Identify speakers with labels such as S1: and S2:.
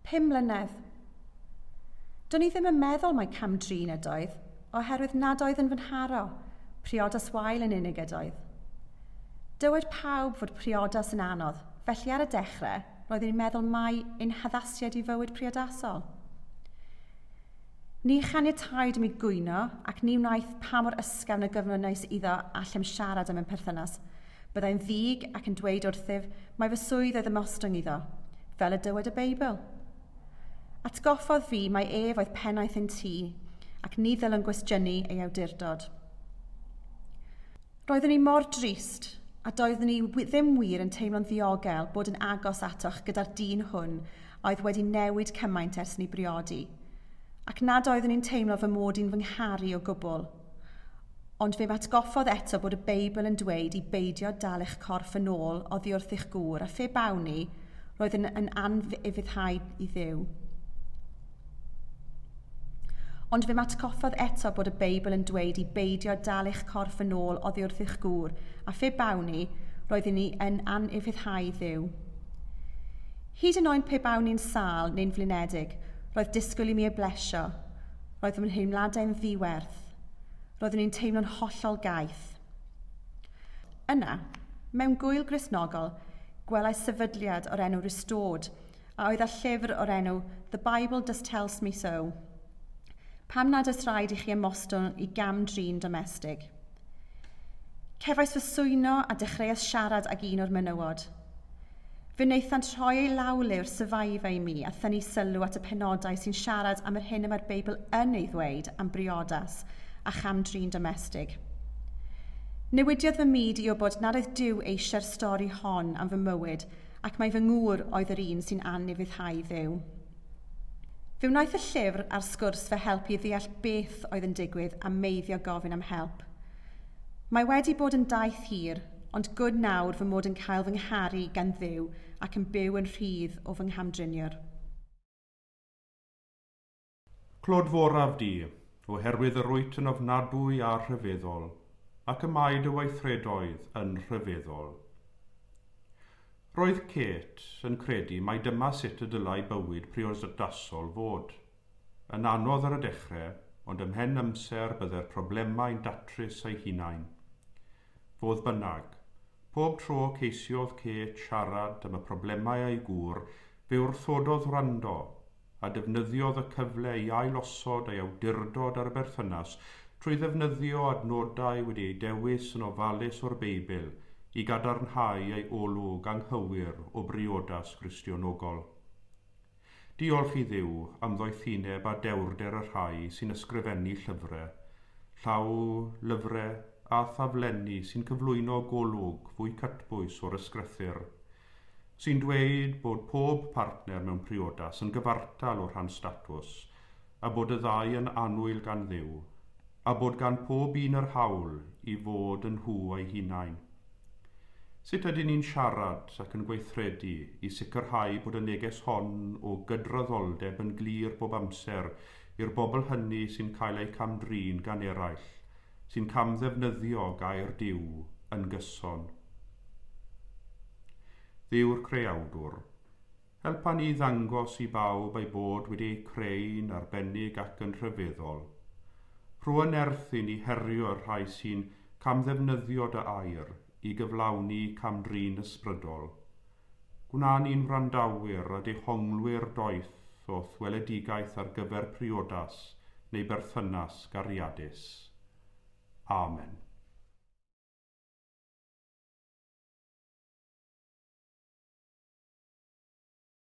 S1: Pum mlynedd. Do'n i ddim yn meddwl mai cam drin ydoedd, oherwydd nad oedd yn fy nharo, priodas wael yn unig ydoedd. Dywed pawb fod priodas yn anodd, felly ar y dechrau, roeddwn i'n meddwl mai ein haddasiad i fywyd priodasol. Ni chaniataid i mi gwyno, ac ni wnaeth pa mor ysgafn y gyflwynais iddo allem siarad am ein perthynas. Byddai'n ddig ac yn dweud wrthyf mai fy swydd oedd ymostwng iddo, fel y dywed y Beibl. Atgoffodd fi mai ef oedd pennaeth ein tŷ, ac ni ddylwn gwestiynu ei awdurdod. Roeddwn i mor drist, a doeddwn i ddim wir yn teimlo'n ddiogel bod yn agos atoch gyda'r dyn hwn a oedd wedi newid cymaint ers ni briodi, ac nad oeddwn i'n teimlo fy mod i'n fy ngharu o gwbl. Ond fe atgoffodd eto bod y Beibl yn dweud i beidio dal eich corff yn ôl oddi wrth eich gŵr, a phe bawn i, roedd yn yn anfuddhau i Dduw. Ond fe matgoffodd eto bod y Beibl yn dweud i beidio dal eich corff yn ôl oddi wrth eich gŵr, a phe bawn i, roedd inni yn anufuddhau Dduw. Hyd yn oed pe bawn i'n sâl neu'n flinedig, roedd disgwyl i mi ei blesio. Roedd fy nheimladau'n ddiwerth. Roeddwn i'n teimlo'n hollol gaeth. Yna, mewn gŵyl Gristnogol, gwelais sefydliad o'r enw Restored, a oedd â llyfr o'r enw The Bible Just Tells Me So, pam nad oes rhaid i chi ymostwng i gam-drin domestig. Cefais fy swyno a dechreuais siarad ag un o'r menywod. Fe wnaethant rhoi eu lawlyfr Survivor i mi a thynnu sylw at y penodau sy'n siarad am yr hyn y mae'r Beibl yn ei ddweud am briodas a cham-drin domestig. Newidiodd fy myd i wybod nad oedd Duw eisiau'r stori hon am fy mywyd ac mai fy ngŵr oedd yr un sy'n anufuddhau Dduw. Fe wnaeth y llyfr a'r sgwrs fy helpu i ddeall beth oedd yn digwydd a meiddio gofyn am help. Mae wedi bod yn daith hir, ond good nawr fy mod yn cael fy ngharu gan Dduw ac yn byw yn rhydd o fy nghamdriniwr.
S2: Clod foraf di, oherwydd yr wyt yn ofnadwy a rhyfeddol, ac y mae dy weithredoedd yn rhyfeddol. Roedd Kate yn credu mai dyma sut y dylai bywyd priodasol fod. Yn anodd ar y dechrau, ond ymhen amser bydde'r problemau'n datrys eu hunain. Fodd bynnag, pob tro ceisiodd Kate siarad am y problemau â'i gŵr, fe wrthododd wrando, a defnyddiodd y cyfle i ailosod ei awdurdod ar y berthynas trwy ddefnyddio adnodau wedi eu dewis yn ofalus o'r Beibl i gadarnhau ei olwg anghywir o briodas Gristionogol. Diolch i Dduw am ddoethineb a dewrder y rhai sy'n ysgrifennu llyfre, llaw lyfre a thaflenni sy'n cyflwyno golwg fwy cytbwys o'r Ysgrythur sy'n dweud bod pob partner mewn priodas yn gyfartal o rhan statws, a bod y ddau yn annwyl gan Dduw, a bod gan pob un yr hawl i fod yn nhw eu hunain. Sut ydyn ni'n siarad ac yn gweithredu i sicrhau bod y neges hon o gydraddoldeb yn glir bob amser i'r bobl hynny sy'n cael eu cam-drin gan eraill sy'n camddefnyddio gair Duw yn gyson. Dduw'r Creawdwr, helpa ni ddangos i bawb ei bod wedi eu creu'n arbennig ac yn rhyfeddol. Rho yn nerth i ni herio y rhai sy'n camddefnyddio dy air i gyflawni cam-drin ysbrydol. Gwnawn i'n wrandawyr a dehonglwyr doeth o'th weledigaeth ar gyfer priodas neu berthynas gariadus. Amen.